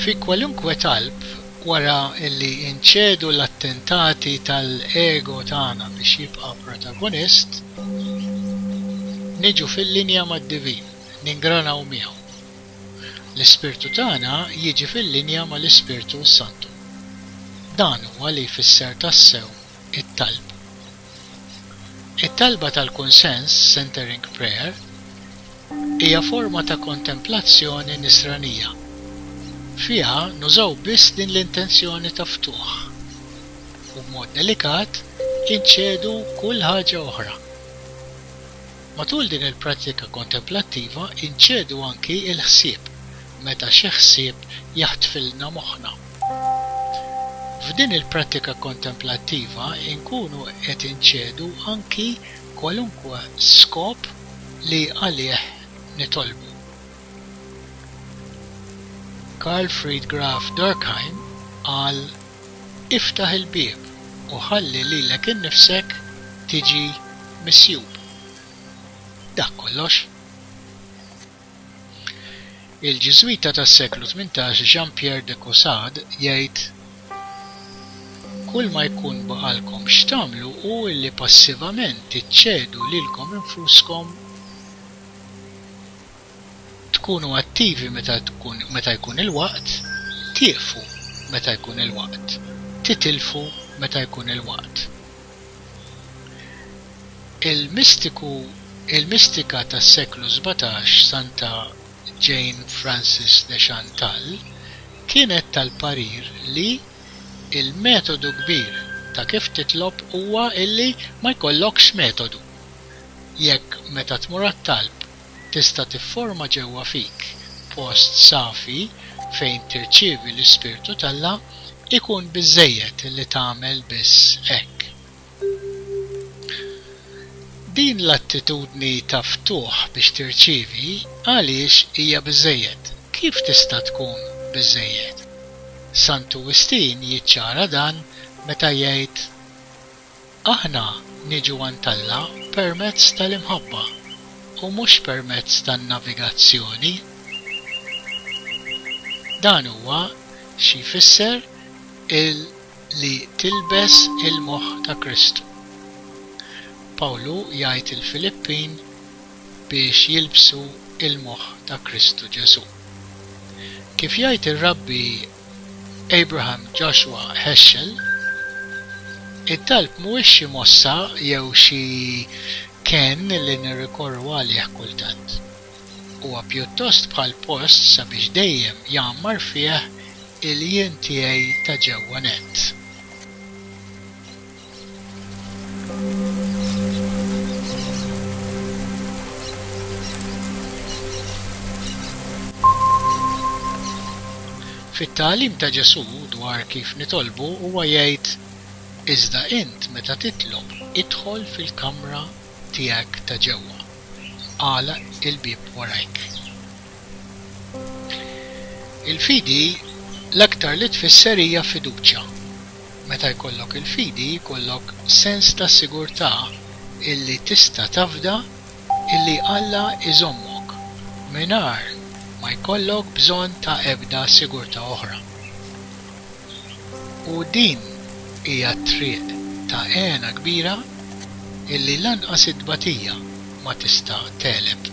Fi kwalunkwe talb wara li nċedu l-attentati tal-ego tagħna biex jibqa' protagonist, niġu fil-linja mad-Divin, ningranaw miegħu. L-ispirtu tagħna jiġi fil-linja mal-Ispirtu s-Santu. Dan huwa li jfisser tassew it-talb. It-talba tal-kunsens, centering prayer, hija forma ta' kontemplazzjoni nisranija. Fiha nużaw biss din l-intenzjoni ta' ftuħ, u b'mod delikat inċedu kull ħaġa oħra. Matul din il-prattika kontemplattiva inċedu anki l-ħsieb meta xi ħsieb jaħtfilna moħħna. F'din il-prattika kontemplattiva nkunu qed inċedu anki kwalunkwe skop li għalih nitolbu. Karl Fried Graf Durkheim qal, Iftaħ il-bieb u ħalli lilek innifsek tiġi misjub. Dak kollox. Il-Ġiżwita tas-seklu tmintax Jean-Pierre de Caussade jgħid, Kull ma jkun baqgħalkom x'tagħmlu hu li passivament tiċċedu lilkom infuskom tkunu attivi meta jkun il-waqt, tieqfu meta jkun il-waqt, titilfu meta jkun il-waqt. Il-mistiku il-mistika tas-seklu sbatax Santa Jane Frances de Chantal kienet tal-parir li l-metodu kbir ta' kif titlob huwa illi ma jkollokx metodu. Jekk meta tmur għat-talb tista' tifforma ġewwa fik post safi fejn tirċievi l-Ispirtu t'Alla, ikun biżżejjed li tagħmel biss hekk. Din l-attitudni ta' ftuħ biex tirċievi għaliex hija biżżejjed? Kif tista' tkun biżżejjed? Santu Wistin jiċċara dan meta jgħid, Aħna niġu għand Alla permezz tal-imħabba u mhux permezz tan-navigazzjoni. Dan huwa xi jfisser il li tilbes il-moħħ ta' Kristu. Pawlu jgħid il-Filippin biex jilbsu il-moħħ ta' Kristu Ġesù. Kif jgħid ir-Rabbi Abraham Joshua Heschel, Id-dalb mhuwiex xi mossa jew xi kenn li nirrikorru għalih kultant. Huwa pjuttost bħal post sabiex dejjem jgħammar fih il-jien tiegħi ta' ġewwa nett. Fit-tagħlim ta' Ġesù dwar kif nitolbu huwa jgħid, Iżda int meta titlob, idħol fil-kamra tiegħek ta' ġewwa, agħlaq il-bieb warajk. Il-fidi l-aktar li tfisser hija fiduċja. Meta jkollok il-fidi jkollok sens ta' sigurtà illi tista' tafda illi Alla jżommok mingħajr ma jkollok bżonn ta' ebda sigurtà oħra. U din hija t-triq ta' hena kbira illi lanqas it-tbatija ma tista' tegħleb.